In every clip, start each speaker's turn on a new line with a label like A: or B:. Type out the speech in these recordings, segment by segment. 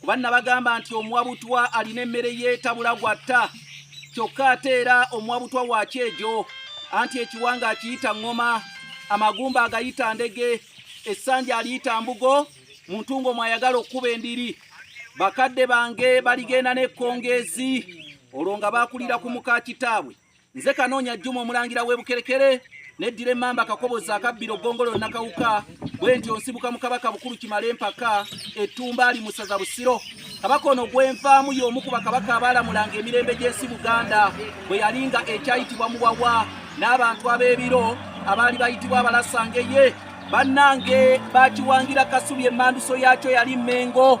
A: kuba nabagamba nti omuwabutwa alina emmere yeetabula gwatta kyokka ate era omuwabutwa wakyejo anti ekiwanga akiyita ŋŋoma amagumba agayita ndege essanja aliyita mbugo mu ntungo mwayagala okukuba endiri bakadde bange baligenda n'ekkongeezi olwo nga baakulira ku muka kitaabwe nze kanoonya juma omulangira w'ebukerekere neddira emmamba akakobozi akabbira ogongolo nnakawuka bwe nti onsibuka mu kabaka bukulu kimala empaka ettumba ali musaza busiro kabaka ono gwenvaamu y'omu ku bakabaka abaalamulanga emirembe gy'ensi buganda bwe yali nga ekyayitibwa muwawa n'abantu ab'ebiro abaali bayitibwa abalasangeye bannange bakiwangira kasubi emmanduso yaakyo yali mmengo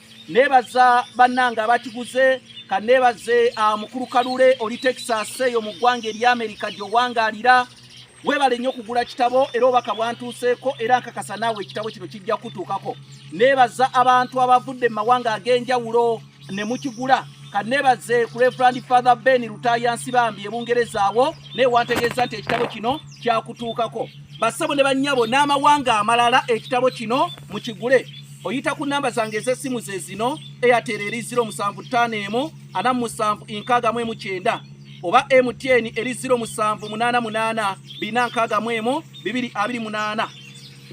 A: nebaza bannange abakiguze kanebaze ah, mukulu kalule oli texas eyo mu ggwanga eri amerika gyowangaalira webale nnyo okugula kitabo era obaka bwantuuseeko era nkakasa naawe ekitabo kino kijja kutuukako neebaza abantu abavudde mu mawanga ag'enjawulo ne mukigula kaneebaze ku reverand father ben lutayansi bambi ebungereza awo naye wantegeeza nti ekitabo kino kyakutuukako bassabo ne bannyabo n'amawanga amalala ekitabo kino mukigule oyita ku namba zange ez'essimu ze zino airtel eri 075147 oba mtn eri 07884628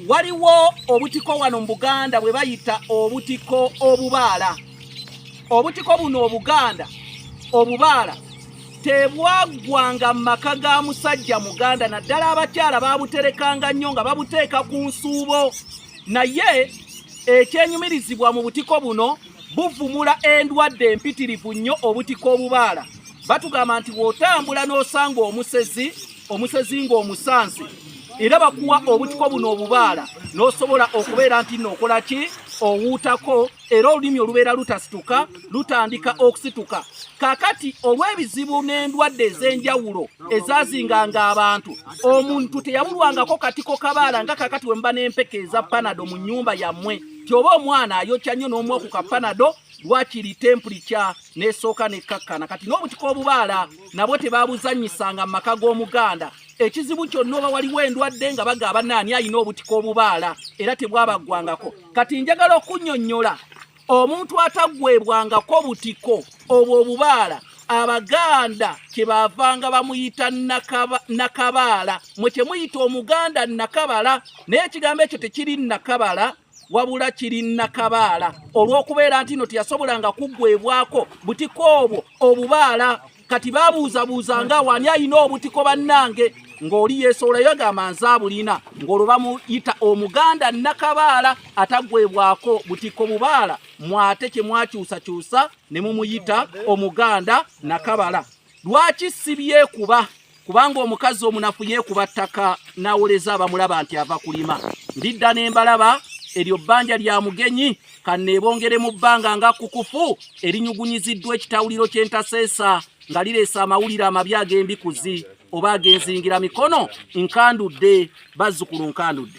A: waliwo obutiko wano mu buganda bwe bayita obutiko obubaala obutiko buno obuganda obubaala tebwaggwanga mu maka ga musajja muganda naddala abakyala babuterekanga nnyo nga babuteeka ku nsuubo naye ekyenyumirizibwa mu butiko buno buvumula endwadde empitirivu nnyo obutiko obubaala batugamba nti bw'otambula n'osanga omusezi omusezi ng'omusansi era bakuwa obutiko buno obubaala n'osobola okubeera nti nookola ki owuutako era olulimi olubeera lutasituka lutandika okusituka kakati olw'ebizibu n'endwadde ez'enjawulo ezazinganga abantu omuntu teyabulwangako katiko kabaala nga kakati wemuba n'empeke eza panado mu nnyumba yammwe tyoba omwana ayokya nnyo n'omu oku ka panado wakiri tempuli kya nesooka nekkakkana kati n'obutika obubaala nabwo tebabuzanyisanga mu maka g'omuganda ekizibu kyonna oba waliwo endwadde nga bagaaba naani alina obutika obubaala era tebwabaggwangako kati njagala okunyonyola omuntu ataggwebwangako butiko obwo obubaala abaganda kyebavanga bamuyita nakabaala mwe kyemuyita omuganda nakabala naye ekigambo ekyo tekiri nakabala wabula kiri nakabaala olw'okubeera nti no teyasobolanga kuggwebwako butiko obwo obubaala kati babuuzabuuza nga wani alina obutiko bannange ng'oli yeesowolayo agamba nze abulina ng'olwo bamuyita omuganda nakabaala atagwebwako butiko bubaala mwate kye mwakyusakyusa ne mumuyita omuganda nakabala lwaki sibyekuba kubanga omukazi omunafu yeekuba ttaka n'awoleza abamulaba nti ava kulima ndidda ne mbalaba eryo bbanja lya mugenyi kanneebongere mu bbanga nga kukufu erinyugunyiziddwa ekitawuliro ky'entaseesa nga lireese amawulire amabi ag'embikuzi oba agenzingira mikono nkandudde bazzukulu nkandudde